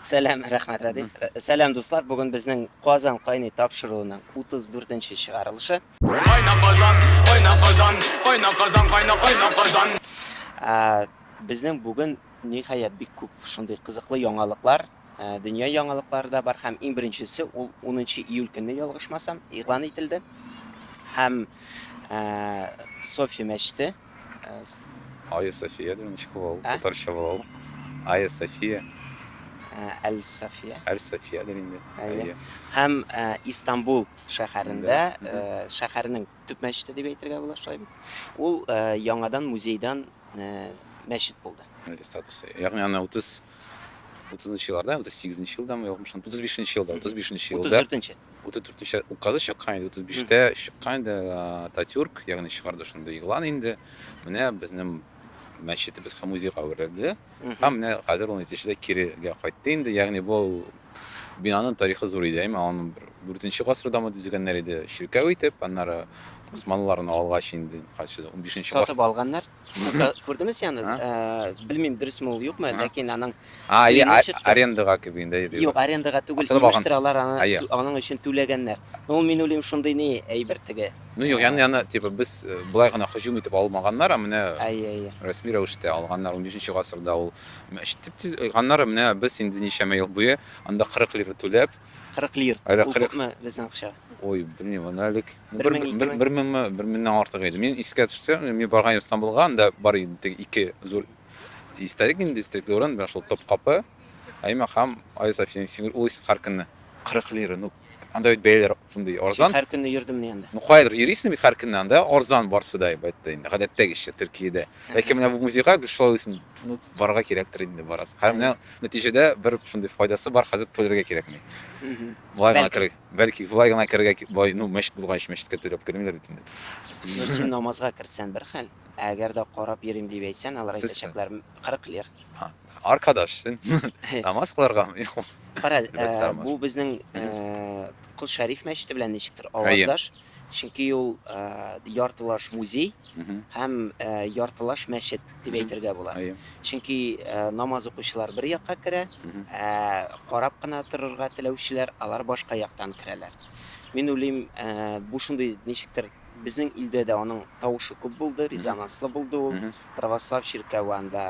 Сәлам, рәхмәт, Радиф. Сәлам, дуслар. Бүген безнең Казан кайный тапшыруының 34 нче чыгарылышы. Кайна Казан, кайна Казан, кайна Казан, кайна кайна Казан. Безнең бүген ниһаять бик күп шундый кызыклы яңалыклар, дөнья яңалыклары да бар һәм иң беренчесе ул 10 июль көнне ялгышмасам игълан ителде. Һәм София мәчете Айя София дигән ничек була ул? Татарча була ул. Айя София. Әл София. Әл София дигән инде. Әйе. Һәм Истанбул шәһәрендә шәһәрнең төп мәчете дип әйтергә була, шулай бит. Ул яңадан музейдан мәчет булды. Статусы. Ягъни аны 30 Утызынчы елларда, утыз сигезенче елдамы, ятмышынчы, утыз бишенче елда, утыз бишенче елда. Утыз дүртенче. Утыз дүртенче указы чыккан инде, утыз биштә чыккан инде Ататюрк, ягъни чыгарды шундый игълан инде. Менә безнең мәчетебез һәм музейга әверелде. Һәм менә хәзер ул нәтиҗәдә кирегә кайтты инде. Ягъни бу бинаның тарихы зур иде, әйме, аны дүртенче гасырдамы төзегәннәр иде, чиркәү итеп, аннары Усманлыларны алгач инде, кайсы 15 нче гасыр. Сатып алганнар. Күрдеме сианы? Э, белмим, дөресме ул, юкмы, ләкин аның скрины чыкты. Арендага кебек инде. Юк, арендага түгел, имештер алар аны, аның өчен түләгәннәр. Ул мин уйлыйм шундый ни әйбер теге. Ну юк, яны яны типа без э, былай гына һөҗүм итеп алмаганнар, ә менә рәсми рәвештә алганнар 15 гасырда ул. Ишетеп алганнар, менә без инде ничәмә ел буе анда 40 лира түләп, 40 лир. Әле Ул 40. күпме безнең акча? Ой, белмим, аны әлек. Бер Бер мең, ике бер- мең. бер меңме, бер меңнән артык иде. Мин искә төшсә, мин барган идем Стамбулга, анда бар иде теге ике зур историк инде, историк урын, менә шул Топкапы, Айма һәм Айя София Сингер улица Харкинны. 40 лира, ну, анда бит бәяләр шундый Син арзан. һәр көнне йөрдем ни анда. Ну, кайдыр йөрисең бит һәр көнне, анда арзан барсы да, әлбәттә, инде, гадәттәгечә, Төркиядә. Ләкин менә бу музейга гел шулай уйлыйсың, ну, барырга кирәктер инде, барасың. Һәм менә Нәтиҗәдә бер шундый файдасы бар, хәзер түләргә кирәкми. Болай гына керә. Бәлки болай гына керергә ки- болай, ну, мәчет булгач, мәчеткә түләп кермиләр бит инде. Ну, син намазга керсән бер хәл, ә әгәр дә карап йөрим дип әйтсән, алар Сез- әйтәчәкләр м, 40 лир. Аркадаш, син намаз кыларгамы? Юк. Кара, Бер ә, тормыш. бу безнең Мгм. ә, Кол Шәриф мәчете белән ничектер Әйе. аваздаш. Чөнки ул яртылаш музей һәм яртылаш мәчет дип әйтергә була. Чөнки намаз укучылар бер якка керә, ә карап кына торырга теләүчеләр алар башка яктан керәләр. Мин уйлыйм, бу шундый ничектер безнең илдә дә аның тавышы күп булды, резонанслы булды ул. Православ чиркәве анда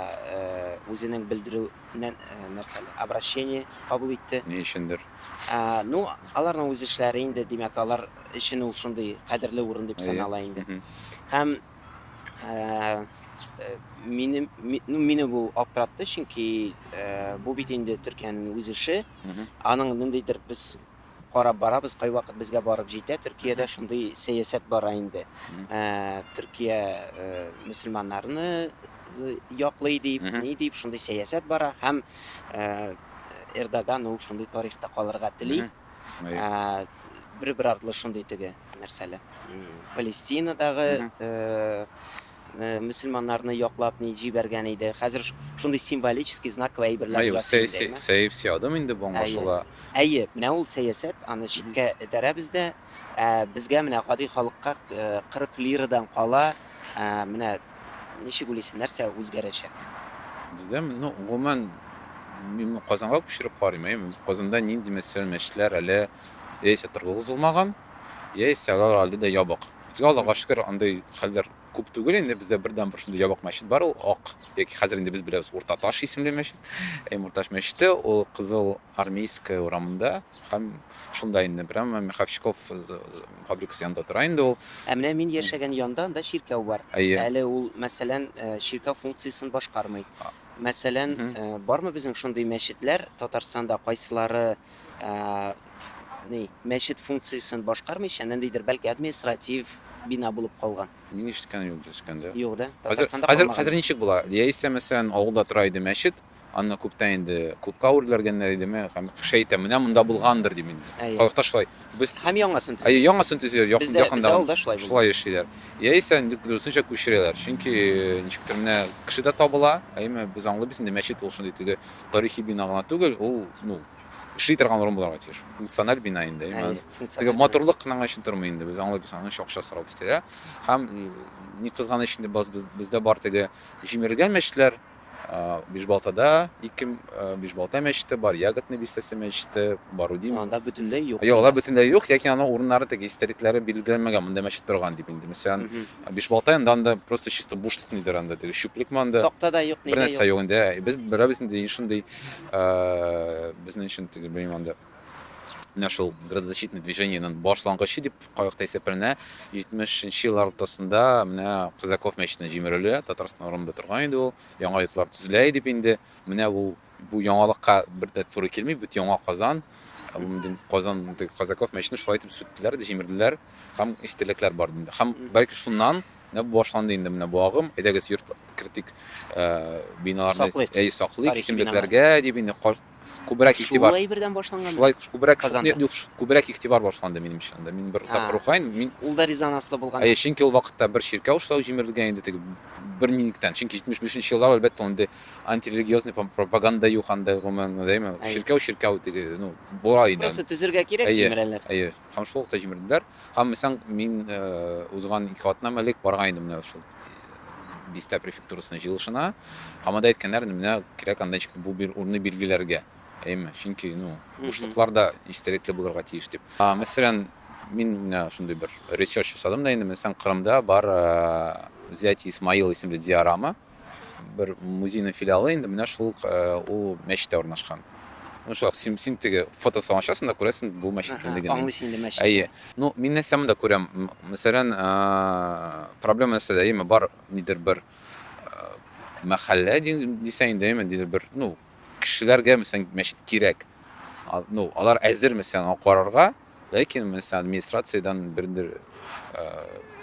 үзенең белдерү нәрсә, обращение кабул итте. Ни өчендер. Ә, ну, аларның үз эшләре инде, димәк, алар өчен ул шундый кадерле урын дип санала инде. Һәм ә, э, мине, ми, ну, мине бу аптыратты, чөнки ә, бу бит инде Төркиянең үз эше. Аның ниндидер без карап барабыз, кайвакыт безгә барып җитә. Төркиядә шундый сәясәт бара инде. Ә, Төркия ә, мөселманнарны яклый дип, ни дип, шундый сәясәт бара һәм ә, Эрдоган ул шундый тарихта калырга тели. Бер бер артлы шундый теге нәрсәле. Палестинадагы мөселманнарны яклап ни җибәргән иде. Хәзер шундый символический знаковый әйберләр ясый. Сәяси сәяси адым инде бу аңлашыла. Әйе, менә ул сәясәт, аны читкә этәрәбез дә. Ә безгә менә гади халыкка 40 лирадан кала, менә ничек уйлыйсың, нәрсә үзгәрәчәк? Бездә, ну, гомумән, мин Казанга күчереп карыйм, әйеме? Казанда нинди мәсәлән мәчетләр әле яисә торгызылмаган, яисә алар әле дә ябык. Безгә, Аллага шөкер, андый хәлләр күп түгел инде, бездә бердәнбер шундый ябык мәчет бар, ул Ак, яки хәзер инде без беләбез, Уртаташ исемле мәчет, әйеме, Урташ мәчете, ул Кызыл Армейская урамында. Һәм шунда инде прямо Меховщиков фабрикасы янында тора инде ул. Ә менә мин яшәгән янда анда чиркәү бар. Әйе. Әле ул, мәсәлән, чиркәү функциясен башкармый. Мәсәлән, бармы безнең шундый мәчетләр Татарстанда, кайсылары ни, мәчет функциясен башкармыйча, ниндидер, бәлки, административ бина булып калган? Мин ишеткән юк, ишеткән дә. Юк, да? Татарстанда калмаган. Хәзер ничек була? Яисә, мәсәлән, авылда тора иде мәчет, Аны күптән инде клубка үрләргәннәр идеме, һәм кеше әйтә, менә монда булгандыр дип инде. Әйе. Халыкта шулай. Без Һәм яңасын төзиләр. Әйе, яңасын төзиләр. Якын, бездә, якында бездә авылда шулай булды. Шулай эшлиләр. Яисә инде дөресенчә күчерәләр. Чөнки ничектер менә кеше дә табыла, әйеме, без аңлыйбыз инде, мәчет ул шундый теге тарихи бина гына түгел, ул, ну, эшли торган урын булырга тиеш. Функциональ бина инде, әйеме. Әйе, функциональ. Теге матурлык кына гына өчен тормый инде, без аңлыйбыз, аның өчен акча сорап үстерә. Һәм, ни кызганыч инде, без, бездә бар теге җимерелгән мәчетләр. Бишбалтада ике Бишбалта мәчете бар, Ягодный бистәсе мәчете, Барудин. Анда бөтенләй юк. Юк, алар бөтенләй юк, яки аның урыннары теге историкләре билгеләнмәгән, монда мәчет торган дип инде. Мәсәлән, Бишбалта инде анда просто чисто бушлык нидер анда, теге чүплек монда. Такта да юк, ни дә юк. Бернәрсә юк инде. Без берәр безнең шундый безнең өчен теге белмим анда. Менә шул градозащитный движениенең башлангычы дип кайвакыт исәпләнә. 70 нче еллар уртасында менә Казаков мәчетенә җимерелә. Татарстан урынында торган иде ул. Яңа йортлар төзелә иде инде. Менә бу бу яңалыкка бер дә туры килми. Бит яңа Казан. Казан Казаков мәчетен шулай итеп сүттеләр, җимерделәр. Һәм истәлекләр бар инде. Һәм бәлки шуннан менә бу башланды инде менә бу агым. Әйдәгез йорт кертик, э, биналарны саклыйк. Әй саклыйк, исемлекләргә дип инде Күбрәк игътибар. Шул әйбердән башланган. Шулай күбрәк Казанда. Юк, күбрәк игътибар башланды минемчә анда. Мин бер тапкыр укыйм, мин. Ул да резонанслы булган. Әйе, чөнки ул вакытта бер чиркәү эшләү җимерелгән инде теге бер минуттан. Чөнки 75 нче еллар, әлбәттә, андый антирелигиозный пропаганда юк анда, гомумән, дәйме. Чиркәү, чиркәү теге, ну, була иде. Просто төзергә кирәк, җимерәләр. Әйе, әйе. Һәм шул вакытта җимерделәр. Ышанмыйсың, мин узган ике атнам элек барган идем менә шул бистә префектурасының җыелышына. Һәм анда әйткәннәр, менә кирәк анда ничек бу бер урынны билгеләргә. Әйме, чөнки, ну, бушлыклар да истәлекле булырга тиеш дип. Мәсәлән, мин менә шундый бер ресерч ясадым да инде, мәсәлән, Кырымда бар Взятие Исмаила исемле диорама. Бер музейның филиалы инде менә шул ук э, ул мәчеттә урнашкан. Ну шулай син, син теге фотосын ачасың да күрәсең бу мәчет кемлеген. Аңлыйсың инде мәчет. Әйе. Ну мин нәрсә монда күрәм? Мәсәлән, э, проблема нәрсәдә? Әйеме бар нидер бер э, мәхәллә дисәң инде, әйеме нидер бер, ну кешеләргә мәсәлән мәчет кирәк. Ну алар әзер мәсәлән карарга. Ләкин мин сиңа администрациядән бердер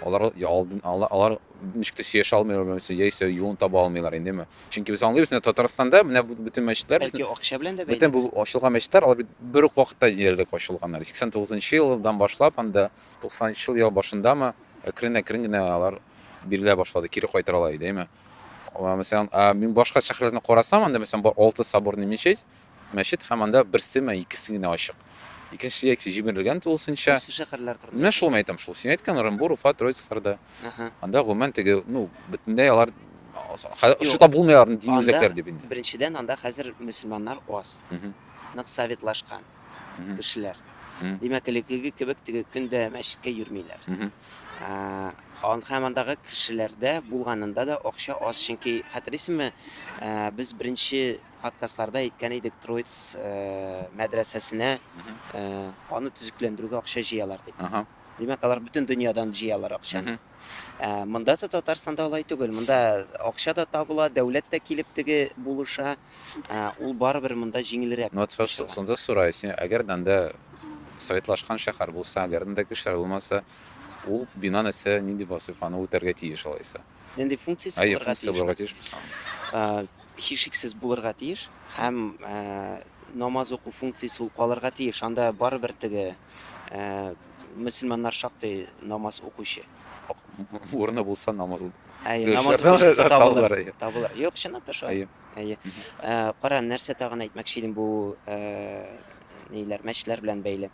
алар алдын ала алар ничек тә сөйләшә алмыйлар белән син яисә юлын таба алмыйлар инде чөнки без аңлыйбыз менә татарстанда менә бөтен мәчетләр бәлки акча белән дә бөтен бу ачылган мәчетләр алар бит бер үк вакытта диярлек ачылганнар сиксән тугызынчы елдан башлап анда туксанынчы ел башындамы әкрен әкрен генә алар бирелә башлады кире кайтаралар идеме мәсәлән мин башка шәһәрләрне карасам анда мәсәлән бар алты соборный мечеть Мәчет һәм анда берсе мә икесе генә ачык. Икенчесе яки җимерелгән тулысынча. Иске шәһәрләр турында. Менә шул әйтәм шул. Син әйткән Ырынбур, Уфа, Троицкларда. Анда гомумән теге, ну, бөтенләй алар Шута булмыйлар дини үзәкләр дип инде. Беренчедән, анда хәзер мөселманнар аз. Нык советлашкан кешеләр. Димәк, элеккеге кебек теге көн дә мәчеткә йөрмиләр. Һәм андагы кешеләрдә булганында да акча аз, чөнки хәтерлисеңме, без беренче подкастларда әйткән идек, Троиц мәдрәсәсенә аны төзекләндерүгә акча җыялар дип. Димәк, алар бөтен дөньядан җыялар акчаны. Монда да Татарстанда алай түгел. Монда акча да табыла, дәүләт тә килеп теге булыша. Ул барыбер монда җиңелрәк. Вот шунда сораю син, әгәр дәндә советлашкан шәһәр булса, әгәр дәндә кешеләр булмаса, ул бина нәрсә, нинди вазифаны үтәргә тиеш алайса? Нинди функциясе Әйе, булырга функция тиеш? булырга тиешме соң? Ә, Һичшиксез булырга тиеш һәм ә, намаз уку функциясе ул калырга тиеш. Анда барыбер теге ә, мөселманнар шактый намаз укучы. Урыны булса намаз. Әйе, Дөрес, намаз шартлар- укучысы табылыр. табылыр, әйе. Табылыр. Юк, чынлап та шулай. Әйе. Әйе. Ә, Кара, нәрсә тагын әйтмәкче идем бу ә, ниләр, мәчетләр белән бәйле.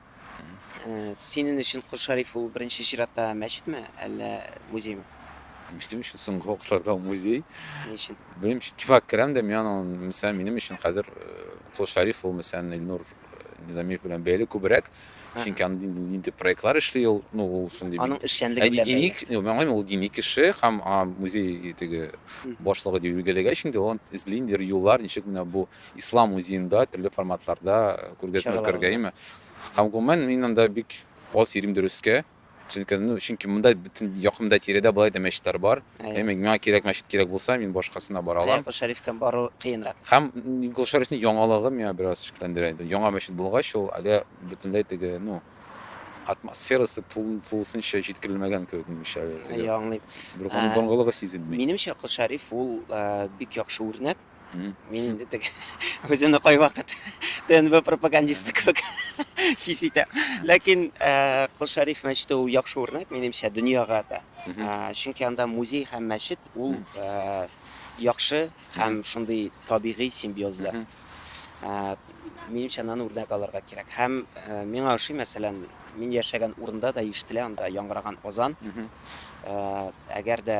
Синен өчен Кол Шариф ул беренче чиратта мәчетме, әллә музеймы? Безнең өчен соңгы вакытларда ул музей. Ни өчен? Белмим, кифак керәм дә, мин аның, мисал, минем өчен хәзер Кол Шариф ул, мисал, Илнур Низамиев белән бәйле күбрәк. Чөнки аны нинди проектлар эшли ул, ну, ул шундый. Аның эшчәнлеге белән. Диник, мөгаен, ул дини кеше һәм музей теге башлыгы дип билгеләгәч инде, ул эзли инде юллар, ничек менә бу Ислам музеенда төрле форматларда күргәзмә Чаралар үткәрергә, уза. әйеме? Һәм гомумән мин анда бик аз йөрим дөрескә. Чөнки, ну, чөнки монда бөтен якында тирәдә болай да мәчетләр бар. Әйе. Әйме, миңа кирәк мәчет кирәк булса, мин башкасына бара Әйе, алам. Кол Шәрифкә бару кыенрак. Һәм м, Кол Шәрифнең яңалыгы миңа бераз шикләндерә инде. Яңа мәчет булгач, ул әле бөтенләй теге, ну, атмосферасы тулы- тулысынча җиткерелмәгән кебек, минемчә, әле теге. Әйе, аңлыйм. Бер Ә, борынгылыгы сизелми. Минемчә, Кол Шәриф ул э, бик яхшы үрнәк. Мин инде теге үземне кайвакыт ТНБ пропагандисты кебек хис итәм. Ләкин э, Кол Шәриф мәчете ул яхшы үрнәк, минемчә, дөньяга да. Э, Чөнки анда музей һәм мәчет ул э, яхшы һәм шундый табигый симбиозда. Э, Минемчә, аны үрнәк алырга кирәк. Һәм э, миңа ошый, мәсәлән, мин яшәгән урында да ишетелә анда яңгыраган азан. Э, Әгәр дә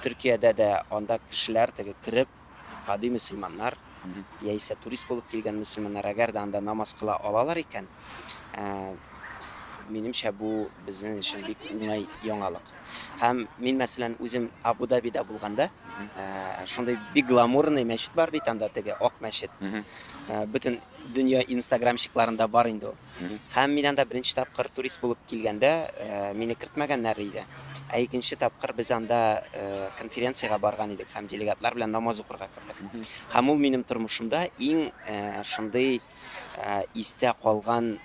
Төркиядә дә анда кешеләр теге кереп, гади мөселманнар яисә турист булып килгән мөселманнар, әгәр дә анда намаз кыла алалар икән, минемчә, бу безнең өчен бик уңай яңалык. Һәм мин, мәсәлән, үзем Абу-Дабида булганда, шундый бик гламурный мәчет бар бит анда, теге ак мәчет. Бөтен дөнья инстаграмщикларында бар инде ул. Һәм мин анда беренче тапкыр турист булып килгәндә, мине кертмәгәннәр иде. Ә икенче тапкыр без анда конференциягә барган идек һәм делегатлар белән намаз укырга кердек. Һәм ул минем тормышымда иң шундый истә калган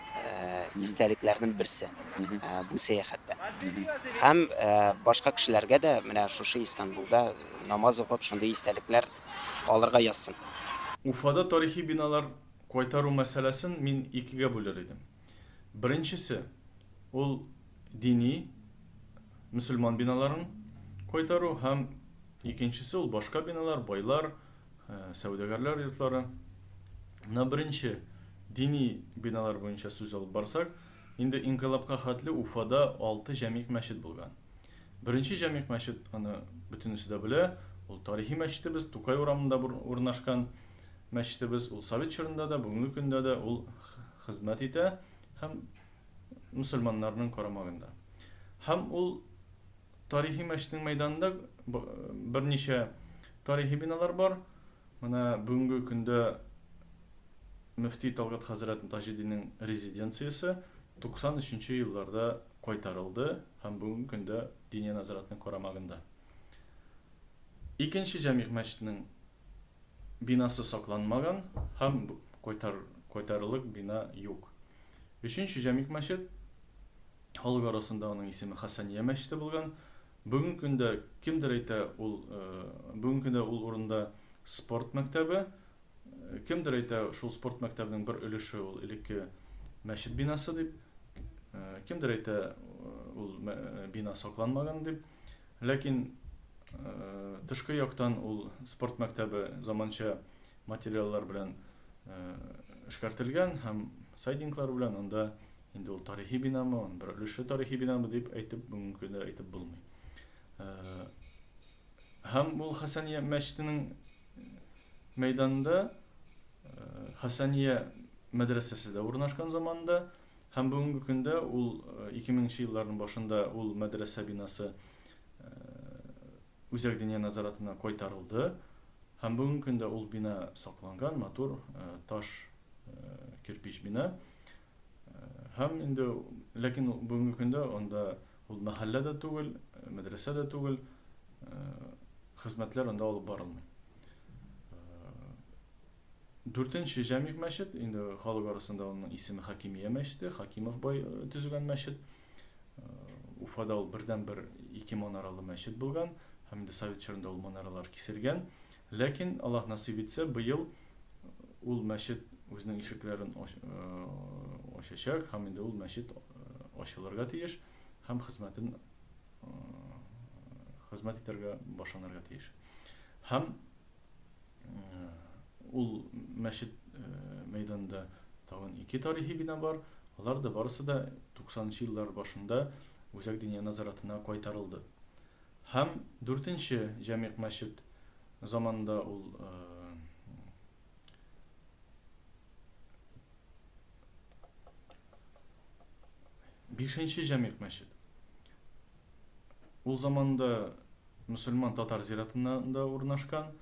истәлекләрнең берсе бу сәяхәттә. Һәм башка кешеләргә дә менә шушы Истанбулда намаз укып, шундый истәлекләр калырга язсын. Уфада тарихи биналар Кайтару мәсьәләсен мин икегә бүлер идем. Беренчесе, ул дини, мөселман биналарын кайтару һәм икенчесе, ул башка биналар, байлар, сәүдәгәрләр йортлары. Менә беренче дини биналар буенча сүз алып барсак, инде инкыйлабка хәтле Уфада алты җәмигъ мәчет булган. Беренче җәмигъ мәчет, аны бөтенесе дә белә, ул тарихи мәчетебез, Тукай урамында урнашкан. Мәчетебез ул совет чорында да, бүгенге көндә дә ул хезмәт итә һәм мөселманнарның карамагында. Һәм ул тарихи мәчетнең мәйданында берничә тарихи биналар бар. Менә бүгенге көндә мөфти Талгат хәзрәт Таҗидинең резиденциясе 93 нче елларда кайтарылды һәм бүгенге көндә Диния назаратның карамагында. Икенче җәмигъ мәчетнең бинасы сакланмаган һәм кайтарырлык бина юк. Өченче Җәмик мәчет, халык арасында аның исеме Хәсәния мәчете булган. Бүгенге көндә кемдер әйтә, ул бүгенге көндә ул урында спорт мәктәбе. Кемдер әйтә, шул спорт мәктәбенең бер өлеше ул элекке мәчет бинасы дип. Кемдер әйтә, ул бина сакланмаган дип. Ләкин тышкы яктан ул спорт мәктәбе заманча материаллар белән эшкәртелгән һәм сайдинглар белән, анда инде ул тарихи бинамы, аның бер өлеше тарихи бинамы дип әйтеп бүгенге көндә әйтеп булмый. Һәм ул Хәсәния мәчетенең мәйданында Хәсәния мәдрәсәсе дә урнашкан заманда Һәм бүгенге көндә ул, ике меңенче елларның башында ул мәдрәсә бинасы Үзәк диния назаратына кайтарылды, һәм бүгенге көндә ул бина сакланган, матур таш кирпич бина. Һәм инде, ләкин бүгенге көндә анда ул мәхәллә дә түгел, мәдрәсә дә түгел, хезмәтләр анда алып барылмый. Дүртенче Җәмигъ мәчет, инде халык арасында аның исеме Хакимия мәчете, Хакимов бай э, төзегән мәчет. Э, Уфада ул бердәнбер ике манаралы мәчет булган һәм инде совет чорында ул манаралар киселгән. Ләкин Аллаһ насыйп итсә, быел ул мәчет үзенең ишекләрен э, ачачак һәм инде ул мәчет ачылырга тиеш һәм хезмәтен хезмәт итәргә башланырга тиеш. Һәм ул мәчет мәйданында тагын ике тарихи бина бар. Алар да барысы да 90-нчы еллар башында үзәк диния назаратына кайтарылды. Һәм дүртенче җәмигъ мәчет заманында ул бишенче җәмигъ мәчет Ул заманда мөселман татар зиратында урнашкан.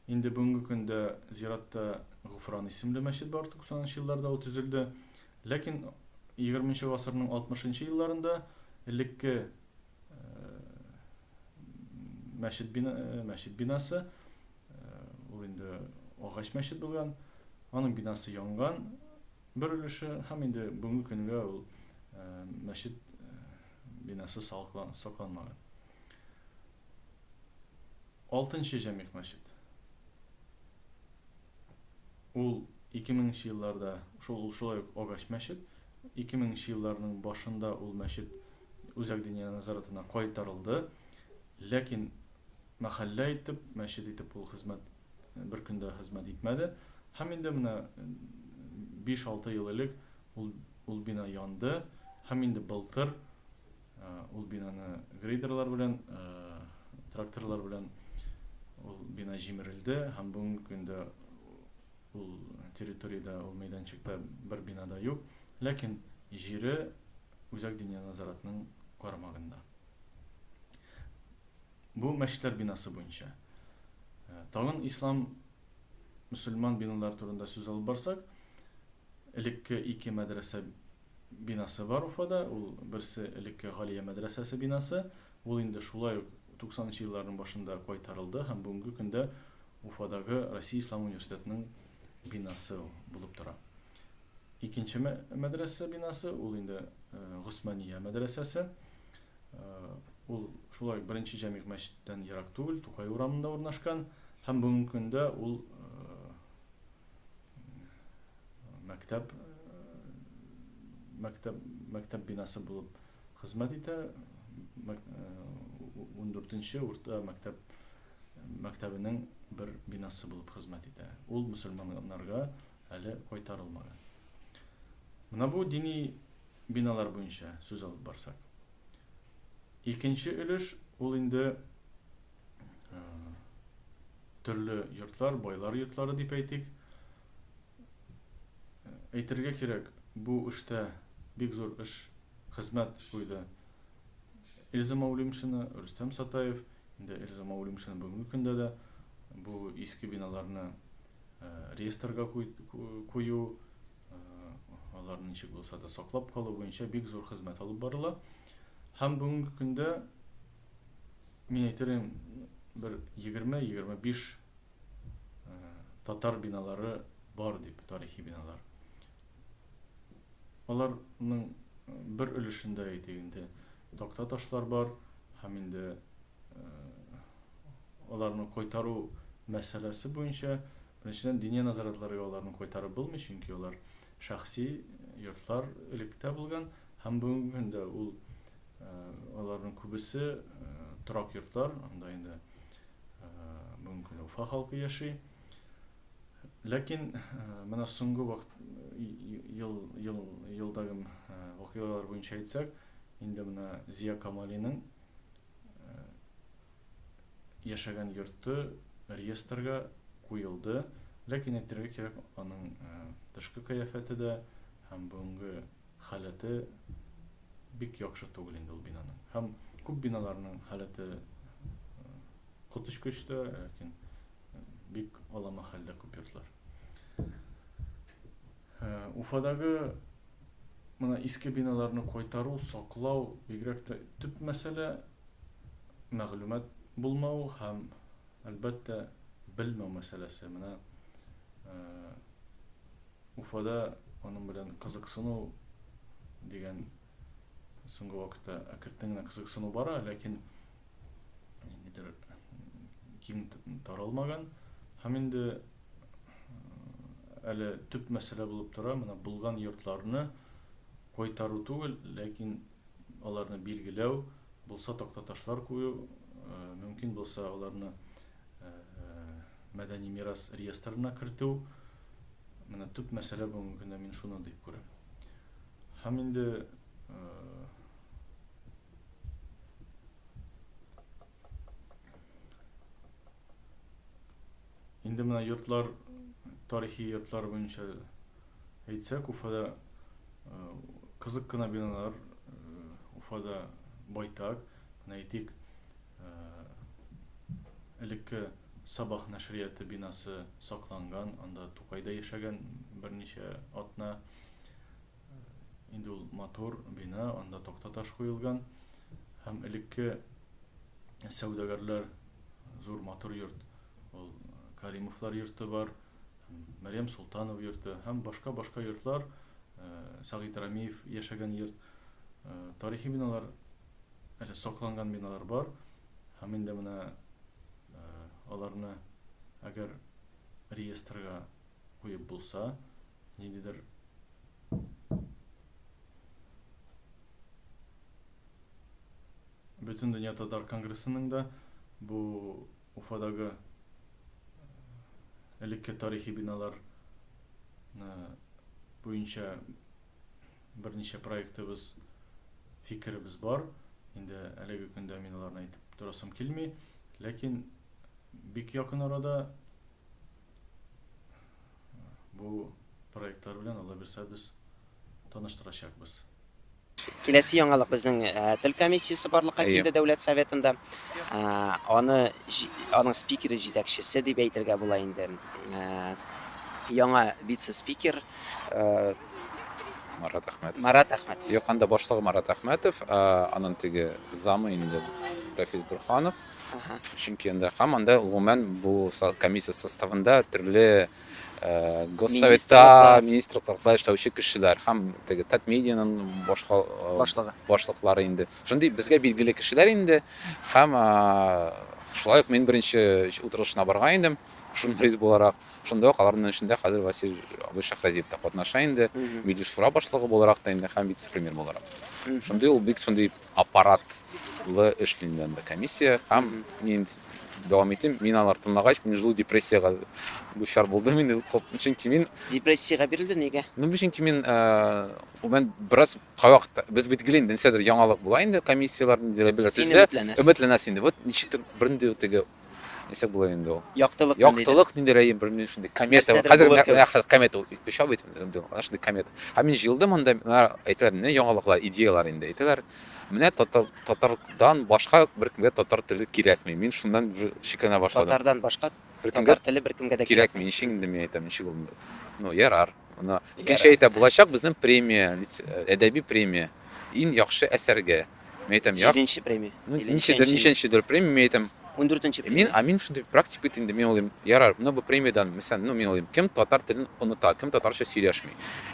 Инде бүгенге көндә зиратта Гуфран исемле мәчет бар, 90 нчы елларда ул төзелде. Ләкин егерме нче гасырның алтмыш нчы елларында элекке мәчет бина, мәчет бинасы, ул инде агач мәчет булган, аның бинасы янган бер өлеше һәм инде бүгенге көнгә ул мәчет бинасы сакланмаган. Алтынчы Җәмигъ мәчет. Ул 2000 нче елларда шул ул шулай ук агач мәчет. 2000 нче елларның башында ул мәчет Үзәк диния назаратына кайтарылды. Ләкин мәхәллә итеп, мәчет итеп ул хезмәт бер көндә хезмәт итмәде. Һәм инде менә 5-6 ел элек ул Ул бина янды һәм инде былтыр ул бинаны грейдерлар белән, тракторлар белән ул бина җимерелде һәм бүгенге көндә ул территориядә, ул мәйданчыкта бер бина да юк. Ләкин җире Үзәк диния назаратның карамагында. Бу мәчетләр бинасы буенча. Тагын ислам, мөселман биналар турында сүз алып барсак, элекке ике мәдрәсә бинасы бар Уфада. Ул берсе элекке Галия мәдрәсәсе бинасы. Ул инде шулай ук 90 нчы елларның башында кайтарылды һәм бүгенге көндә Уфадагы Россия Ислам университетының бинасы булып тора. Икенче мәдрәсә бинасы ул инде Госмания мәдрәсәсе. Ул шулай беренче җәмигъ мәчеттән ерак түгел, Тукай урамында урнашкан һәм бүгенге көндә ул мәктәп мәктәп мәктәп бинасы булып хезмәт итә ундүртенче урта мәктәп мәктәбенең бер бинасы булып хезмәт итә ул мөселманнарга әле кайтарылмаган менә бу дини биналар буенча сүз алып барсак икенче өлеш ул инде төрле йортлар, байлар йортлары дип әйтик. Әйтергә кирәк, бу эштә бик зур эш, хезмәт куйды Эльза Маулимшина, Рөстәм Сатаев. Инде Эльза Маулимшина бүгенге көндә дә бу иске биналарны э, реестрга кую, э, аларны ничек булса да саклап калу буенча бик зур хезмәт алып барыла. Һәм бүгенге көндә Мин әйтер идем, бер егерме-егерме биш татар биналары бар дип, тарихи биналар. Аларның бер өлешендә әйтик инде, такта ташлар бар һәм инде аларны кайтару мәсьәләсе буенча Беренчедән, диния назаратларга аларны кайтарып булмый, чөнки алар шәхси йортлар электә булган, Һәм бүгенге көндә ул аларның күбесе торак йортлар, анда инде бүгенге көндә Уфа халкы яши. Ләкин менә соңгы вакыт ел ел елдагы вакыйгалар буенча әйтсәк, инде менә Зия Камалиның яшәгән йорты реестрга куелды. Ләкин әйтергә кирәк, аның тышкы кыяфәте дә һәм бүгенге халәте бик яхшы түгел инде ул бинаның. Һәм күп биналарның халәте коточкыч та, ләкин бик алама хәлдә күп йортлар. Уфадагы мына иске биналарны кайтару, саклау бигрәк тә төп мәсьәлә, мәгълүмат булмау һәм Әлбәттә, белмәү мәсьәләсе. Менә Уфада аның белән кызыксыну дигән соңгы вакытта әкертен генә кызыксыну бара, ләкин нидер киң таралмаган. Һәм инде әле төп мәсьәлә булып тора, менә булган йортларны кайтару түгел, ләкин аларны билгеләү, булса тактаташлар кую, мөмкин булса аларны мәдәни мирас реестрына кертү, менә төп мәсьәлә бүгенге көндә мин шуны дип күрәм. Һәм инде инде менә йортлар, тарихи йортлар буенча Әйтсәк, Уфада кызык кына биналар Уфада байтак. Менә әйтик, элекке Сабах нәшрияты бинасы сакланган, анда Тукай да яшәгән берничә атна. Инде ул матур бина, анда такта таш куелган. Һәм элекке сәүдәгәрләр зур матур йорт, ул Каримовлар йорты бар. Мәрьям Солтанов йорты һәм башка-башка йортлар, Сәгыйть Рәмиев яшәгән йорт, тарихи биналар, әле сакланган биналар бар һәм инде менә аларны әгәр реестрга куеп булса, ниндидер Бөтен дөнья татар конгрессының да бу Уфадагы элекке тарихи биналар буенча берничә проектыбыз, фикеребез бар. Инде әлеге көндә мин аларны әйтеп торасым килми, ләкин бик якын арада Бу проектлар белән Алла бирсә без таныштырачакбыз. Киләсе яңалык безнең тел комиссиясе барлыкка килде дәүләт советында. Аны аның спикеры җитәкчесе дип әйтергә була инде. Яңа вице-спикер Марат Әхмәтов. Марат Әхмәтов. Юк, анда башлыгы Марат Әхмәтов, анын теге замы инде Рафис Бурханов. Чөнки анда һәм анда гомумән бу комиссия составында төрле госсоветта, министрлыкларда эшләүче кешеләр һәм теге Татмедианың башка башлыгы. башлыклары инде. Шундый безгә билгеле кешеләр инде һәм шулай ук мин беренче утырышына барган идем журналист буларак. Шунда ук аларның эшендә хәзер Васил абый Шахразиев та катнаша инде. Милли шура башлыгы буларак та инде һәм вице-премьер буларак. Шундый ул бик шундый Аппаратлы эш динде анда комиссия һәм мин дәвам итим. Мин алар тыңлагач, мин җылы депрессиягә дучар булдым инде, чөнки мин. Депрессиягә бирелде, нигә? Ну, чөнки мин, мен бераз кайвакыт без бит гел инде нәрсәдер яңалык була инде комиссияләр, нидер әйберләр төзелә. Син өметләнәсең. Өметләнәсең инде. Вот ничектер бернинди теге Нисек булыр инде ул? Яктылык ниндидер. Яктылык нинди рәим, белмим шундый комета. Нәрсәдер Хәзер булыр менә кебек. менә хәзер комета ул оча бит инде, инде ана шундый комета. Һәм мин җыелдым анда, менә әйтәләр, менә яңалыклар, идеялар инде әйтәләр. Менә татар татардан башка беркемгә татар теле кирәкми. Мин шуннан уже шикләнә башладым. Татардан башка Беркемгә татар теле беркемгә дә кирәкми. кирәкми, ничек инде мин әйтәм, ничек ул? Ну, ярар. Ана икенче Ярар. әйтә, булачак безнең премия, лиц- әдәби премия. Иң яхшы әсәргә. Мин әйтәм, як. Җиденче премия. Ну, ничәдер, ничәнчедер премия, мин әйтәм. Ундүртенче премия. Мин, а мин шундый практик бит инде, мин уйлыйм, ярар, менә бу премиядән, мәсәлән, ну, мин уйлыйм, кем татар телен оныта, кем татарча сөйләшми.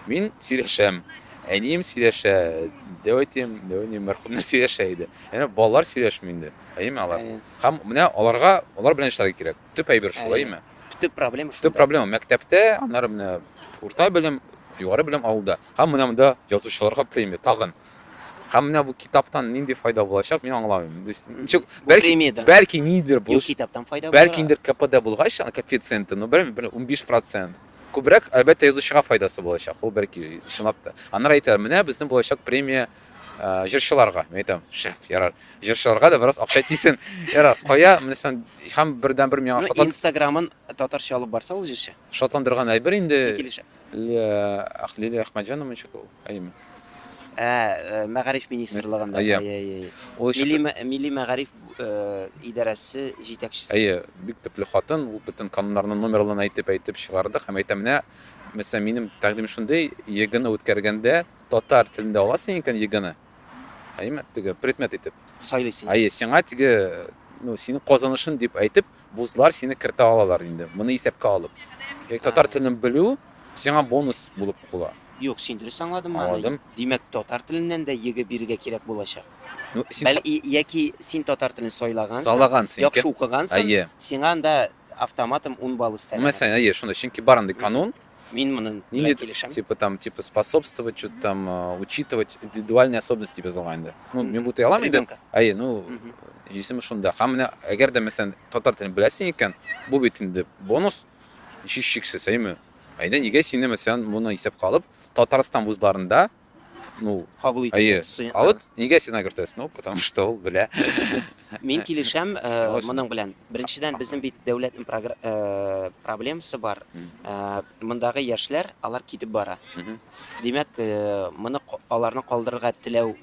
Мин сөйләшәм, әнием сөйләшә, дәүәтем, дәүәтем мәрхүмнәр сөйләшә иде. Әнә балалар сөйләшми инде, әйеме алар? Һәм менә аларга, алар белән эшләргә кирәк. Төп әйбер шул, әйеме? Төп проблема шул. Төп проблема мәктәптә, аннары менә урта белем, югары белем авылда. Һәм менә монда язучыларга премия тагын. Һәм менә бу китаптан нинди файда булачак, мин аңламыйм. То есть, ничек, Бу бәлки, премиядән. бәлки нидер Юк, булыш, китаптан файда бәлки була. ниндер КПД булгач, аны коэффициенты, ну, бер, бер 15 процент. Күбрәк, әлбәттә, язучыга файдасы булачак, ул бәлки, чынлап та. Аннары әйтәләр, менә безнең булачак премия ә, җырчыларга. Мин әйтәм, шәф, ярар, җырчыларга да бераз акча тисен. Ярар, кая, менә сен, һәм бердәнбер миңа Ну, шатлан, инстаграмын татарча алып барса ул җырчы, шатландырган әйбер инде, килешә. Лилия Әхмәтҗанова ничек ул? Әйеме? Ә, э, мәгариф министрлыгында. Әйе. Әйе, әйе, әйе. Ул Милли, чыгы- мә- милли мәгариф э, идарәсе җитәкчесе. Әйе, бик төпле хатын, ул бөтен кануннарны номерларын әйтеп әйтеп чыгарды һәм әйтә менә, мәсәлән, минем тәкъдим шундый, ЕГЭны үткәргәндә татар телендә аласың икән ЕГЭны. Әйеме? Теге предмет итеп. Сайлыйсың. Әйе, сиңа теге ну, синең казанышың дип әйтеп, Вузлар сине кертә алалар инде, моны исәпкә алып. Яки татар телен белү сиңа бонус булып кула. Юк, син дөрес аңладым моны. Аңладым. Димәк, татар теленнән дә ЕГЭ бирергә кирәк булачак. Ну, син Бәл, и, яки син татар телен сайлагансың, Сайлагансың, яхшы укыгансың, әйе. сиңа анда автоматом ун балл өстәлә. Мәсәлән, әйе, шундый, чөнки бар андый канун. Мин моны Нинди килешәм. Типа там, типа способствовать, что-то там, э, учитывать индивидуальные особенности тебе залаганда. Ну, мен бу тыялам инде. Әйе, ну, исеме шунда. Һәм менә әгәр дә мәсәлән татар телен беләсең икән, бу бит инде бонус. Һичшиксез, әйме. Әйдә, нигә сине мәсәлән моны исәпкә алып, Татарстан вузларында ну, кабул итә. Әйе. А вот нигә син агыртасың? Ну, потому что ул белә. Мин килешәм э, моның белән. Беренчедән, безнең бит дәүләтнең э, проблемасы бар. Э, мондагы яшьләр, алар китеп бара. Димәк, моны аларны калдырырга теләү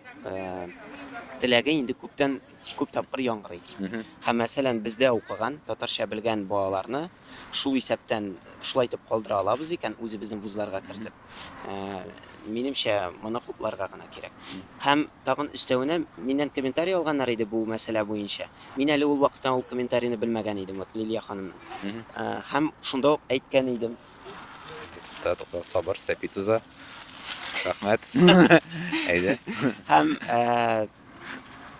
теләге инде күптән күп тапкыр яңгырый. Һәм мәсәлән, бездә укыган, татарча белгән балаларны шул исәптән шулай итеп калдыра алабыз икән, үзебезнең вузларга кертеп. минемчә, моны хупларга гына кирәк. Һәм тагын өстәвенә, миннән комментарий алганнар иде бу мәсьәлә буенча. Мин әле ул вакытта ул комментарийны белмәгән идем, вот Лилия ханымның. Һәм шунда ук әйткән идем. Ютубта тукта сабыр, сәпи туза. Рәхмәт. Әйдә. Һәм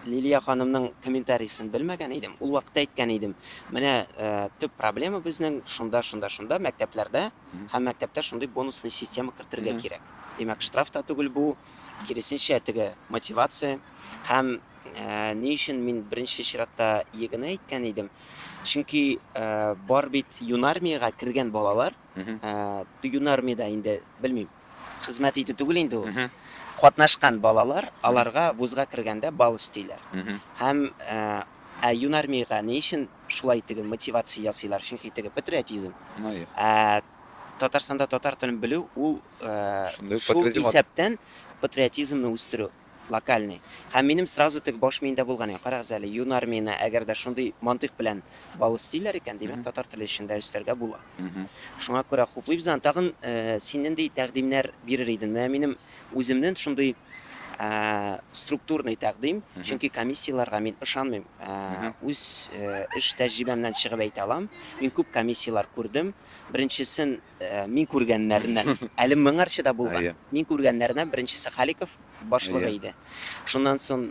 Лилия ханымның комментариясен белмәгән идем. Ул вакытта әйткән идем, менә э, төп проблема безнең шунда, шунда, шунда мәктәпләрдә һәм мәктәптә шундый бонусный система кертергә кирәк. Димәк, штраф та түгел бу, киресенчә теге мотивация һәм э, ни өчен мин беренче чиратта егыны әйткән идем? Чөнки э, бар бит юнармиягә кергән балалар, э, юнармиядә инде белмим, Хезмәт итү түгел инде ул. Катнашкан балалар, аларга вузга кергәндә бал өстиләр. Һәм ә юнармиягә ни өчен шулай теге мотивация ясыйлар? Чөнки теге патриотизм. Ә Татарстанда татар телен белү ул шул исәптән патриотизмны үстерү. Локальный. Һәм минем сразу теге баш миендә булган иде, карагыз әле, юнар миенә әгәр дә шундый мантыйк белән бал өстиләр икән, димәк, татар теле өчен дә өстәргә була. Шуңа күрә хуплыйбыз аны. Тагын син нинди тәкъдимнәр бирер идең? Менә минем үземнен шундый структурный тәкъдим, чөнки комиссияләргә мин ышанмыйм. Үз эш тәҗрибәмнән чыгып әйтә алам. Мин күп комиссияләр күрдем. Беренчесен Мин күргәннәреннән, әле моңарчы да булган, мин күргәннәреннән беренчесе Халиков башлыгы иде. Шуннан соң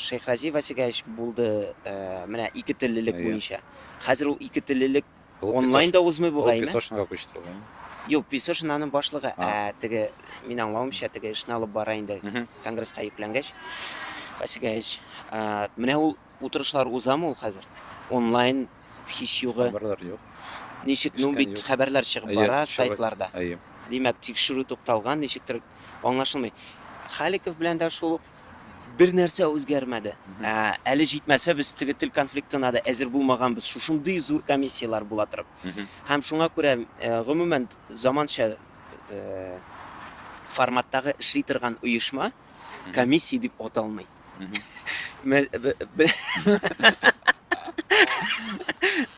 Шейхрази Васигаевич булды, менә ике теллелек буенча. Хәзер ул ике теллелек онлайн да узмый бугай. Песошинга күчте ул. Юк, Песошин аның башлыгы, ә теге, мин аңлавымча, теге эшне алып бара инде, конгресска йөкләнгәч. Васигаевич, менә ул Утырышлар узамы ул хәзер? Онлайн һич югы. Хәбәрләр юк. Ничек? Ну бит хәбәрләр чыгып бара сайтларда. Димәк, тикшерү тукталган, ничектер аңлашылмый. Халиков белән дә шул ук бер нәрсә үзгәрмәде. Ә, әле җитмәсә, без теге тел конфликтына да әзер булмаганбыз. Шушындый зур комиссияләр була торып. Һәм шуңа күрә, э, гомумән, заманча э, форматтагы эшли торган оешма комиссия дип аталмый. Мгм. Мә- б- б-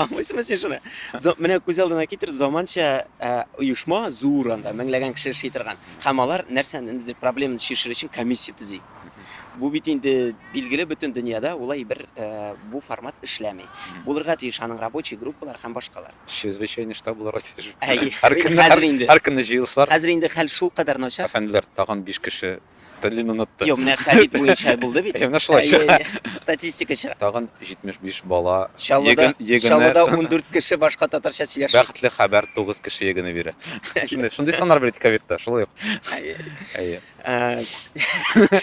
Аңлыйсыңмы син шуны? За- Менә күз алдына китер, заманча ә, оешма зур анда, меңләгән кеше эшли торган. Һәм алар нәрсәнедер проблеманы чишер өчен комиссия төзи. Бу бит инде билгеле бөтен дөньяда улай бер ә, бу формат эшләми. Булырга тиеш аның рабочий группалар һәм башкалар. Чрезвычайный штаб буларга тиеш. Әйе, Һәр көнне- хәзер инде. Һәр көнне җыелышлар. Хәзер инде хәл шул кадәр начар. Әфәнделәр, тагын биш кеше Телен онытты. Юк, менә хәдит буенча булды бит. Менә шулай чыга. Статистика чыга. Тагын 75 бала егын егыны. Чаллыда 14 кеше башка татарча сөйләшә. Бәхетле хәбәр 9 кеше егыны бирә. Шундый шундый саннар бирде ковидта, шулай ук. Әйе.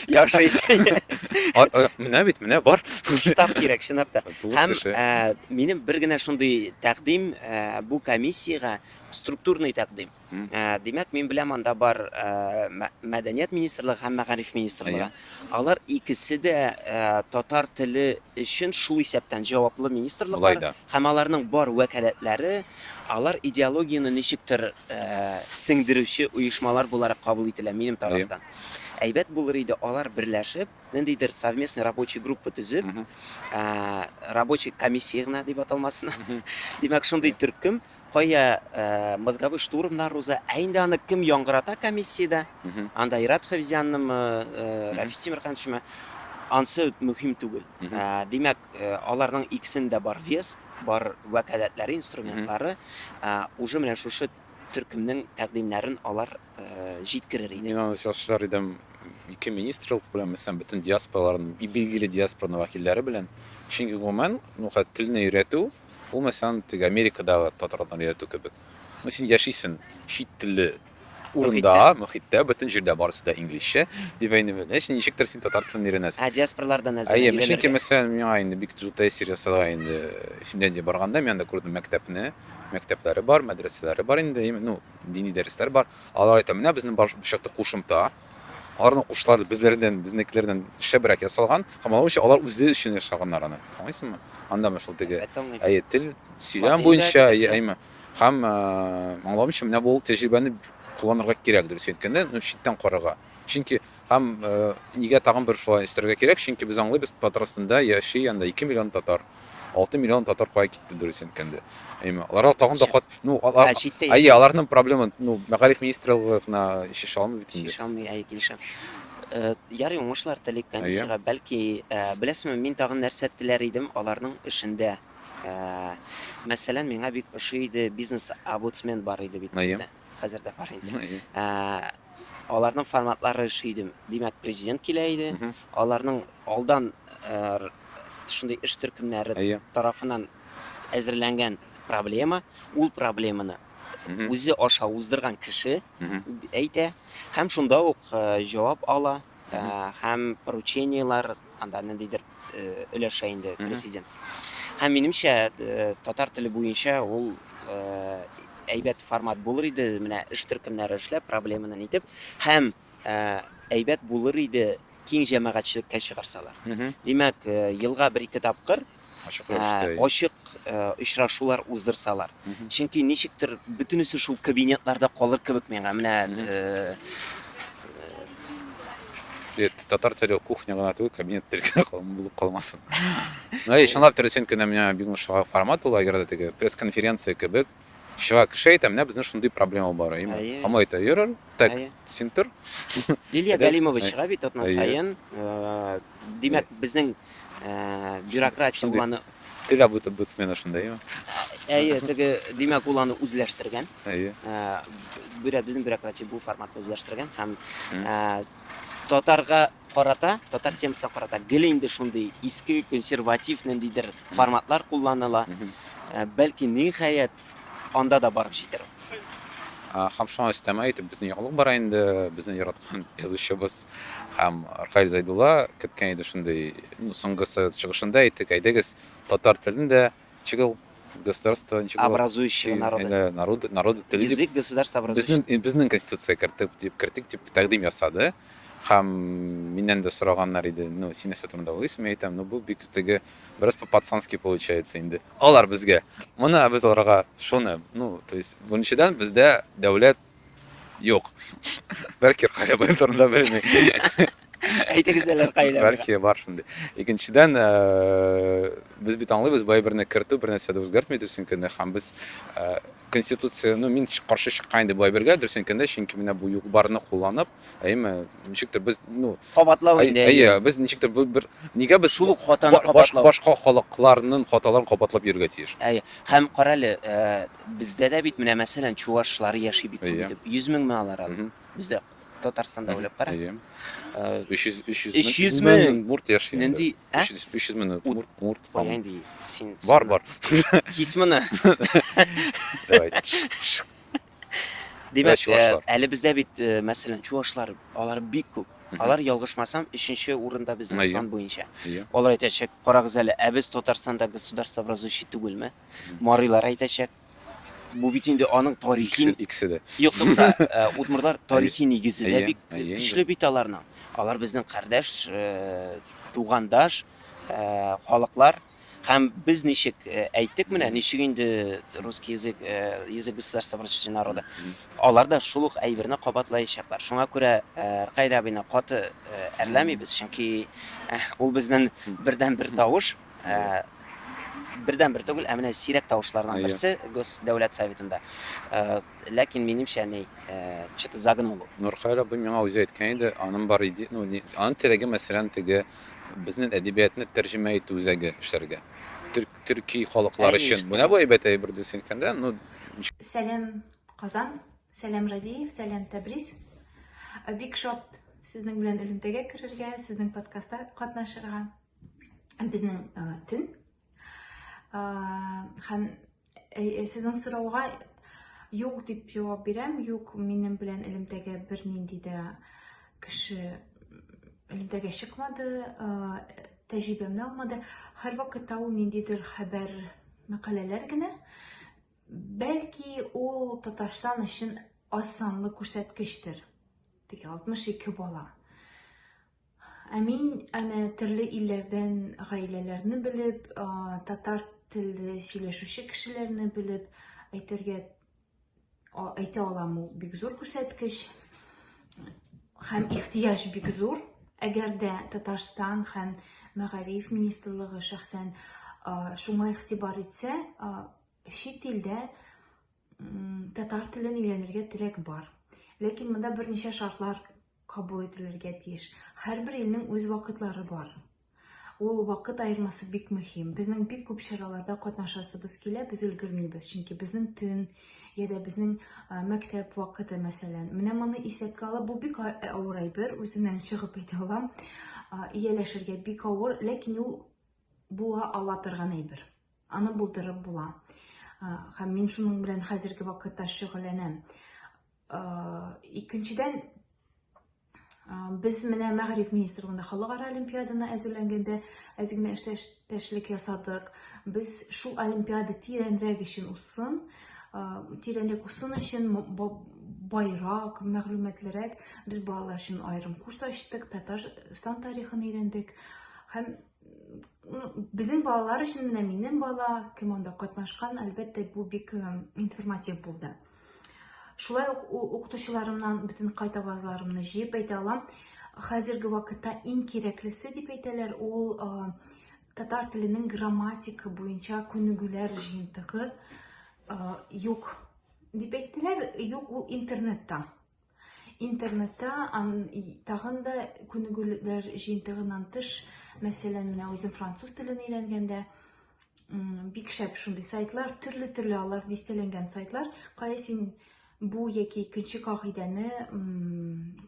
Яхшы исән. Менә бит, менә бар. Штаб кирәк, чынлап та. Һәм минем бер генә шундый тәкъдим бу комиссиягә структурный тәкъдим. Димәк, мин беләм, анда бар Мәдәният министрлыгы һәм Мәгариф министрлыгы. Алар икесе дә татар теле өчен шул исәптән җаваплы министрлыклар һәм аларның бар вәкаләтләре, алар идеологияне ничектер сеңдерүче оешмалар буларак кабул ителә минем тарафтан. Әйбәт булыр иде, алар берләшеп, ниндидер совместный рабочий группа төзеп, рабочий комиссия гына дип аталмасын, димәк, шундый төркем Кая мозговой штурмнар уза, ә инде аны кем яңгырата комиссиядә, анда Ират Хәвзяннымы, Рәфис Тимерхановичмы, ансы мөһим түгел. Димәк, аларның икесендә бар вес, бар вәкаләтләре, инструментлары, уже менә шушы төркемнең тәкъдимнәрен алар җиткерер иде. Мин аны чалышыр идем ике министрлык белән, мәсәлән, бөтен диаспораларның, билгеле диаспорның вәкилләре белән. Чөнки гомумән, ну, телне өйрәтү, Бу мәсәлән теге Америкадагы татарларны өйрәтү кебек. Ну син яшисен чит телле урында, мөхиттә, бөтен җирдә барысы да инглизчә, дип әйнем. Эш ничектер син татар телен өйрәнәсең. Ә диаспорлардан әзер. Әйе, мин чөнки мәсәлән миңа инде бик зур тәэсир ясала инде Финляндия барганда, мин анда күрдем мәктәпне, мәктәпләре бар, мәдрәсәләре бар инде, ну, дини дәресләр бар. Алар әйтә, менә безнең башта кушымта, Аларның кушлары безләрдән, безнекеләрдән шәбрәк ясалган һәм алар өчен алар үзе өчен ясаганнар аны. Аңлыйсыңмы? Андамы шул теге әйе тел сөйләм буенча әйе әйме. Һәм аңлавымча менә бу тәҗрибәне кулланырга кирәк дөрес әйткәндә, ну читтән карарга. Чөнки һәм нигә тагын бер шулай өстәргә кирәк? Чөнки без аңлыйбыз Татарстанда яши анда 2 миллион татар. Алты миллион татар кая китте дөрес әйткәндә. Әйме, аларга тагын да кат, ну, алар, Ә читтә әйе, яшәүче- аларның проблема, ну, мәгариф министрлыгы гына чишә алмый бит инде. Шиша алмый, әй, килешәм. Э, Ярый, уңышлар телик комиссиягә. Бәлки, э, беләсеңме, мин тагын нәрсә теләр идем аларның эшендә. Э, Мәсәлән, миңа бик ошый иде бизнес-обуцмен бар иде бит Әйе. бездә. хәзер дә бар инде. Ә, аларның форматлары эшли иде. Димәк, президент килә иде. Мгм. Аларның алдан ә, р- шундый эш төркемнәре Әйе. тарафыннан әзерләнгән проблема, ул проблеманы Мгм. үзе аша уздырган кеше Мгм. әйтә һәм шунда ук ә, җавап ала. Һәм поручениеләр анда ниндидер өләшә инде президент. Һәм минемчә, татар теле буенча ул әйбәт формат булыр иде, менә эш төркемнәре эшләп, проблеманы нитеп, һәм әйбәт булыр иде киң җәмәгатьчелеккә чыгарсалар. Димәк, елга бер-ике тапкыр ачык рәвештә ә, ачык ә, очрашулар уздырсалар. Чөнки ничектер бөтенесе шул кабинетларда калыр кебек миңа. Менә ә, Бет, татар теле кухня гына түгел, кабинет теле генә булып калмасын. Ну, и чынлап дөресен кенә менә бик ошаган формат ул, әгәр дә теге пресс-конференция кебек, Чыга кеше әйтә, менә безнең шундый проблема бар, әйеме? Әйе. Һәм әйтә, йөрер, так, Әйе. син тор. Лилия Әйдә, Галимова әй- чыга бит атна әйе. саен. Э, Димәк, безнең э, бюрократия Шундый. уланы Теге бут- бутсмена шундай, әйеме? әйе, теге димәк ул аны үзләштергән. Әйе. Э, бюро- безнең бюрократия бу форматны үзләштергән һәм Мгм. э, татарга Карата, татар темасына карата гел инде шундый иске, консерватив ниндидер форматлар кулланыла. Бәлки, ниһаять, анда да барып җитәр ул. Һәм шуңа өстәмә итеп, безнең яңалык бара инде, безнең яраткан язучыбыз һәм Рхаил Зәйдулла керткән иде шундый, ну, соңгысы чыгышында әйтте, әйдәгез, татар телен дә чыгыл государство ничего образующего народы народы народы теле язык государство образующего безнең безнең конституция кертеп дип кертик дип тәкъдим ясады һәм миннән дә сораганнар иде ну син нәрсә турында уйлыйсың мин әйтәм ну бу бик теге бераз по пацански получается инде алар безгә моны без аларга шуны ну то есть беренчедән бездә дәүләт Юк. Бәлки кая барган да белми. Әйтегез әле кайда. Бәлки бар шундый. Икенчедән, э, без бит аңлыйбыз, бай берне кертү бер нәрсә дә үзгәртми дөресен кенә һәм без э, конституция, ну мин каршы чыккан инде бай бергә дөресен кенә, чөнки менә бу юк барны кулланып, Әйме, ничектер без, ну, кабатлау инде. Әйе, без ничектер бу бер нигә без шул ук хатаны кабатлау. Башка халыкларның хаталарын кабатлап йөргә тиеш. Әйе. Һәм карале, э, бездә дә бит менә мәсәлән чувашлар яши бит күп итеп. 100 мең мә алар. Бездә Татарстанда уйлап кара. Әйе. 300 300 300 мең мурт яши. Нинди? 300 300 мең мурт мурт. Нинди? Син Бар бар. Кисмена. Давай. Димәк, чувашлар. Әле бездә бит, мәсәлән, чувашлар, алар бик күп. Алар ялгышмасам, өченче урында безнең сан буенча. Алар әйтәчәк, карагыз әле, ә без Татарстанда государство образующий түгелме? Марилар әйтәчәк, бу бит инде аның тарихи... Икесе дә. Юк, тукта, удмурлар тарихи нигезе дә бик көчле бит аларның. Алар безнең кардәш, тугандаш халыклар. Һәм без ничек әйттек менә, ничек инде русский язык, язык государства просвещения народа. Алар да шул ук әйберне кабатлаячаклар. Шуңа күрә Ркайда абыйны каты әрләмибез, чөнки ул безнең бердән бер тавыш, бердән бер түгел, ә менә сирәк тавышларның берсе Госдәүләт советында. Ләкин минемчә ни, что-то загнул ул. Нуркаил абый миңа үзе әйткән иде, аның бар иде, ну, ни, аның теләге, мәсәлән, теге безнең әдәбиятны тәрҗемә итү үзәге эшләргә. Төрк, төрки халыклар Әйе, өчен. ишетәм. Менә бу әйбәт әйбер дөрес әйткәндә, ну, Сәләм Казан, сәләм Радиев, сәләм Тәбриз. Э, Бик шат сезнең белән элемтәгә керергә, сезнең подкастта катнашырга. Безнең э, төн. Э, Һәм Э, э, сезнең сорауга юк дип җавап бирәм. Юк, минем белән элемтәгә бернинди дә кеше элемтәгә чыкмады, э, тәҗрибәмне алмады. Һәрвакытта ул ниндидер хәбәр, мәкаләләр генә. Бәлки ул Татарстан өчен аз санлы күрсәткечтер. Теге 62 бала. Ә мин әнә төрле илләрдән гаиләләрне белеп, татар телле сөйләшүче кешеләрне белеп әйтергә әйтә алам ул бик зур күрсәткеч һәм ихтыяҗ бик зур. Әгәр дә Татарстан һәм мәгариф министрлыгы шәхсән шуңа игътибар итсә, чит илдә Татар телен өйрәнергә теләк бар. Ләкин монда берничә шартлар кабул ителергә тиеш. Һәрбер илнең үз вакытлары бар. Ул вакыт аермасы бик мөһим. Безнең бик күп чараларда катнашасыбыз килә, без өлгермибез, чөнки безнең төн я да безнең мәктәп вакыты, мәсәлән. Менә моны исәпкә алып, бу бик авыр әйбер, үзеннән чыгып әйтә алам. Ияләшергә бик авыр, ләкин ул була ала торган әйбер. Аны булдырып була. Һәм мин шуның белән хәзерге вакытта шөгыльләнәм. Икенчедән, без менә мәгариф министрлыгында халыкара олимпиаданы әзерләнгәндә әз генә эштәшлек ясадык без шул олимпиада тирәнрәк өчен узсын тирәнрәк узсын өчен байрак мәгълүматлырак без балалар өчен аерым курс ачтык татарстан тарихын өйрәндек һәм Безнең балалар өчен менә минем бала кем анда катнашкан, әлбәттә, бу бик информатив булды. Шулай ук укытучыларымнан бөтен кайт авазларымны җыеп әйтә алам. Хәзерге вакытта иң кирәклесе дип әйтәләр, ул татар теленең грамматика буенча күнегүләр җыентыгы юк дип әйттеләр, юк ул интернетта. Интернетта тагын да күнегүләр җыентыгыннан тыш, мәсәлән, менә үзем француз телен өйрәнгәндә, бик шәп шундый сайтлар, төрле-төрле алар дистәләнгән сайтлар, кая син бу яки икенче кагыйдәне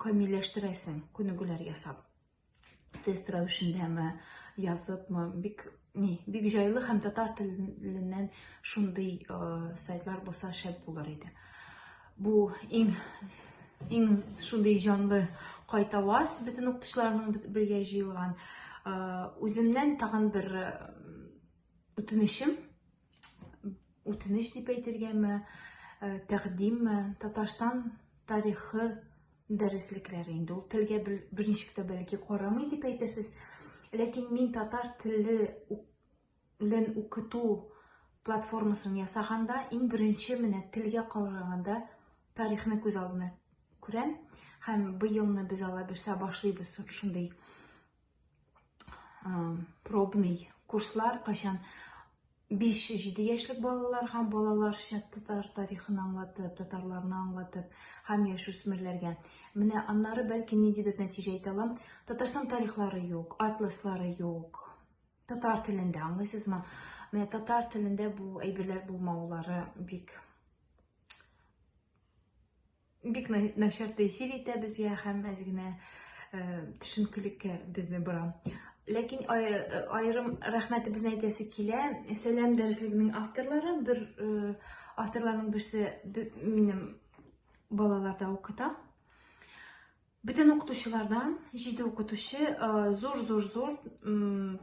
камилләштерәсең, күнегүләр ясап. тест рәвешендәме, языпмы, бик ни, бик җайлы һәм татар теленнән шундый э, сайтлар булса шәп булыр иде. Бу иң иң шундый җанлы кайтаваз бөтен укытучыларның бергә җыелган. Э, үземнән тагын бер э, үтенечем үтенеч дип әйтергәме, э, тәкъдимме, Татарстан тарихы дәреслекләре инде. Ул телгә берничек тә бәлки карамый дип әйтерсез. Ләкин мин татар телен укыту платформасын ясаганда, иң беренче менә телгә караганда тарихны күз алдына күрәм. Һәм быелны без алаберсә башлыйбыз шундый пробный курслар кайчан 5-7 яшьлек балаларга балаларча татар тарихын аңлатып, татарларны аңлатып һәм яшүсмерләргә. Менә аннары бәлки ниндидер нәтиҗә әйтә алам. Татарстан тарихлары юк, атласлары юк. Татар телендә аңлыйсызмы? Менә татар телендә бу әйберләр булмаулары бик Бик начар тәэсир итә безгә һәм әз генә төшенкелеккә безне бора. Ләкин аерым рәхмәтебезне әйтәсе килә. Сәлам дәреслегенең авторлары, бер авторларның берсе минем балаларда укыта. Бөтен укытучылардан җиде укытучы зур-зур-зур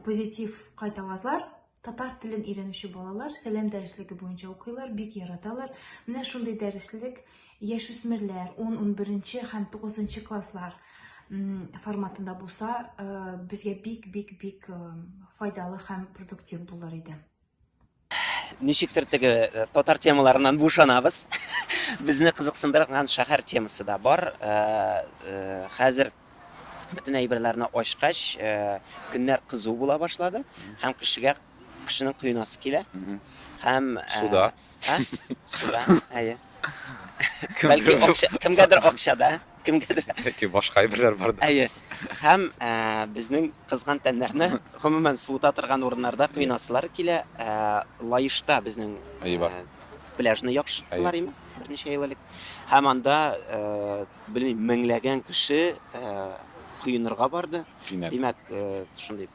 позитив кайтавазлар татар телен өйрәнүче балалар сәлам дәреслеге буенча укыйлар, бик яраталар. Менә шундый дәреслек яшүсмерләр 10-11 һәм 9 класслар форматында булса, э, безгә бик-бик-бик э, файдалы һәм продуктив булыр иде. ничектер теге э, татар темаларыннан бушанабыз безне кызыксындырган шәһәр темасы да бар э, э, хәзер бөтен әйберләрне ачкач көннәр кызу була башлады һәм кешегә кешенең коенасы килә һәм суда Ha? Суда, әйе. Бәлки акча, кемгәдер акчада, кемгәдер. Яки башка әйберләр бар. Әйе. Һәм безнең кызган тәннәрне гомумән суыта торган урыннарда кыйнасылар килә. Лаешта безнең пляжны яхшырттылар име? Берничә ел элек. Һәм анда, белмим, меңләгән кеше коенырга барды. Димәк, шундый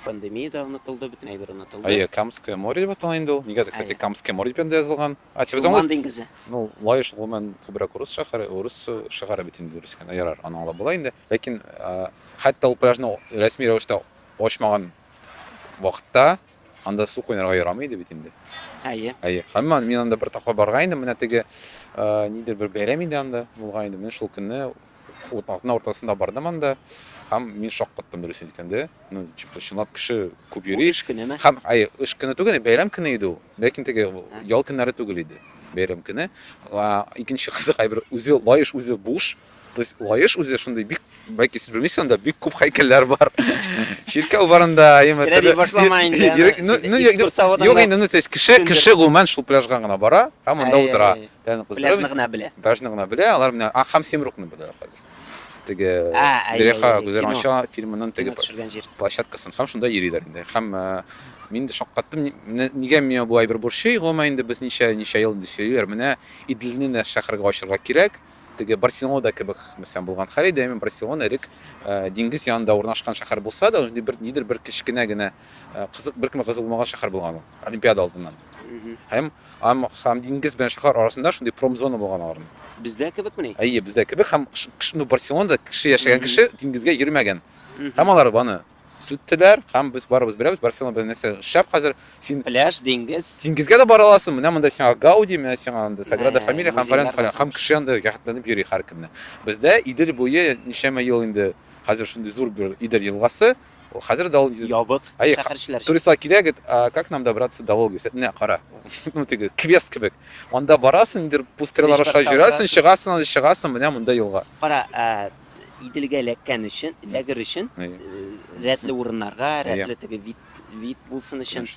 Пандемия дә онытылды, бөтен әйбер онытылды. Әйе, Камское море дип атала инде ул. Нигәдер, кстати, Камское море дип анда язылган. А теперь Чулман диңгезе. Ну, Лаеш гомумән күбрәк урыс шәһәре, урыс шәһәре бит инде дөрес икән. Ярар, аны аңлап була инде. Ләкин хәтта ул пляжны рәсми рәвештә ачмаган вакытта анда су куйнарга ярамый иде бит инде. Әйе. Әйе. Һәм мин анда бер тапкыр барган идем, менә теге нидер бер бәйрәм иде анда булган иде. Мин шул көнне Утның уртасында бардым анда һәм мин шаккаттым дөресен әйткәндә. Ну, типа, чынлап кеше күп йөри. Эш көнеме? Һәм, ай, эш көне түгел, бәйрәм көне иде ул. Ләкин теге ял көннәре түгел иде. Бәйрәм көне. Икенче кызык әйбер, үзе лаеш, үзе буш. То есть лаеш үзе шундый бик, бәлки сез белмисез, анда бик күп һәйкәлләр бар. Чиркәү барында, яме. Рәди башлама инде. Ну, ну, юк инде, ну, то есть кеше, кеше гомумән шул пляжга гына бара һәм анда утыра. Яны кыздырып. Пляжны гына белә. Пляжны гына белә, алар менә а һәм Семрукны белә хәзер. Теге Зелеха Гүзәл Анша фильмының теге площадкасын һәм шунда йөриләр инде. Һәм мин дә шаккаттым, нигә миңа бу әйбер борчый, гомумән инде без ничә ничә ел инде сөйлиләр, менә Идлибне дә шәһәргә ачырга кирәк. Теге Барселонада кебек, мәсәлән, булган хәл иде, әмма Барселона элек диңгез янында урнашкан шәһәр булса да, нидер бер кечкенә генә Кызык бер кем кызы булмаган шәһәр булган ул, Олимпиада алдыннан. Һәм ам һәм диңгез белән шәһәр арасында шундый промзона булган аларның. Бездә кебекмени? Әйе, бездә кебек һәм ну Барселонада кеше яшәгән кеше диңгезгә йөрмәгән. Һәм алар баны сүттеләр һәм без барыбыз беләбез Барселона белән нәрсә шәп хәзер син пляж, диңгез. Диңгезгә дә бара аласың. Менә монда сиңа Гауди, менә сиңа анда Саграда Фамилия һәм фәлән фәлән һәм кеше анда яхтланып йөри һәркемне. Бездә Идел буе ничәмә ел инде хәзер шундый зур бер Идел елгасы. Ул хәзер дә ул ябык. Шәһәрчеләр. Туристлар килә гет, как нам добраться до Волгиса? Менә кара. Ну теге квест кебек. Анда барасың, ниндидер пустырьлар аша йөрәсең, чыгасың, анда чыгасың, менә монда елга. Кара, Иделгә эләккән өчен, эләгер өчен, рәтле урыннарга, рәтле теге вид вид булсын өчен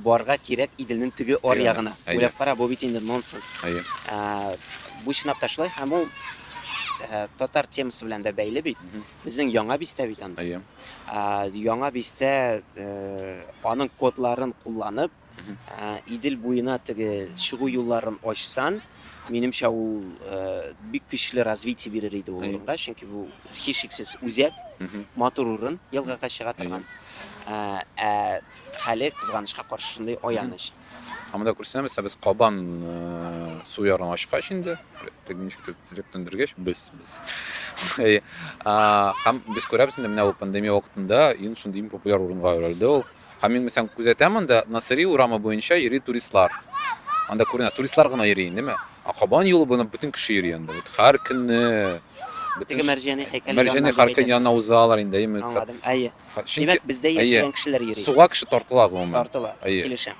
барга кирәк Иделнең теге ар ягына. Уйлап кара, бу бит инде нонсенс. Бу чынлап та шулай һәм ул татар темасы белән дә бәйле бит. Безнең Яңа Бистә бит анда. Әйе. Яңа Бистә аның кодларын кулланып, Идел буена теге чыгу юлларын ачсан, минемчә ул бик көчле развитие бирер иде ул урынга, чөнки бу һичшиксез үзәк, матур урын, елгага чыга торган. Ә хәле кызганычка каршы шундый аяныч. Ә монда күрсәмез, без кабан су ярын ашкач инде, теге ничек тизлек төндергәч, без без. Һәм без күрәбез инде менә ул пандемия вакытында ин шундый иң популяр урынга әверелде ул. Һәм мин мәсәлән күзәтәм анда Насыри урамы буенча йөри туристлар. Анда күренә, туристлар гына йөри инде, ә кабан юлы буйлап бөтен кеше йөри анда. Вот һәр көнне Теге мәрҗәни һәйкәл. Мәрҗәни һәйкәл янына узалар инде, әйе. Әйе. Димәк, бездә яшәгән кешеләр йөри. Суга кеше тартыла гомумән. Тартыла, килешәм.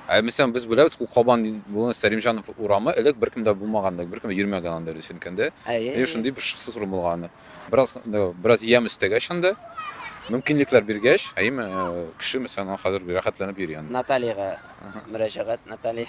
Ә мәсәлән, без беләбез, ул Кабан буе Сәримҗанов урамы элек беркем дә булмаган, беркем дә йөрмәгән анда дөрес әйткәндә. Әйе, шундый бер шыксыз урын булган анда. Бераз бераз ям өстәгәч анда, мөмкинлекләр биргәч, әйеме, кеше мәсәлән, хәзер рәхәтләнеп йөри анда. Натальяга мөрәҗәгать, Наталья.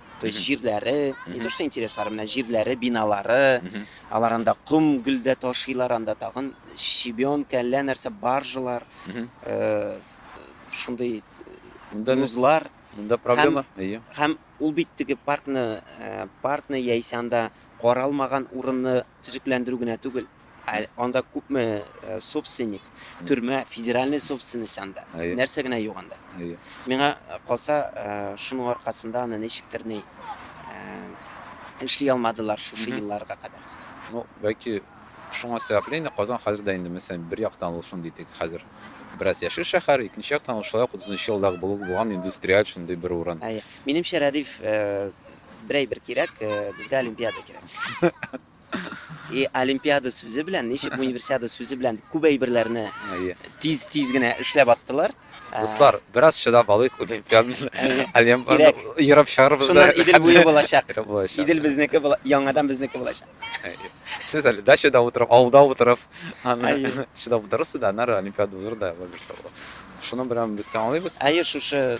То есть җирләре, не то что интереслары, менә җирләре, биналары, алар анда ком гөлдә ташыйлар, анда тагын щебенка, әллә нәрсә баржалар, э, шундый музлар. Монда проблема, әйе. Һәм ул бит теге паркны, э, паркны яисә анда каралмаган урынны төзекләндерү генә түгел. Ә анда күпме э, собственник, төрмә, федеральный собственность анда. Әйе. Нәрсә генә юк анда. Әйе. Миңа э, калса, э, шуның аркасында аны ничектер ни э, эшли алмадылар шушы Мгм. елларга кадәр. Ну, бәлки шуңа сәбәпле инде Казан хәзер дә инде мәсәлән бер яктан ул шундый тик хәзер бераз яшел шәһәр, икенче яктан ул шулай ук 30 елдагы булып булган индустриаль шундый бер урын. Әйе. Минемчә, Рәдиф, э, бер әйбер кирәк, э, безгә Олимпиада кирәк. И олимпиада сүзе белән, ничек универсиада сүзе белән күп әйберләрне тиз-тиз генә эшләп аттылар. Дуслар, бераз чыдап алыйк, олимпиаданы олимпиаданы ерып чыгарыбыз. Шуннан Идел буе булачак. Идел безнеке була, яңадан безнеке булачак. Сез әле дачада утырып, авылда утырып, чыдап утырасыз да, аннары олимпиада узыр да, булмаса. Шуны белән без тәмамлыйбыз. Әйе, шушы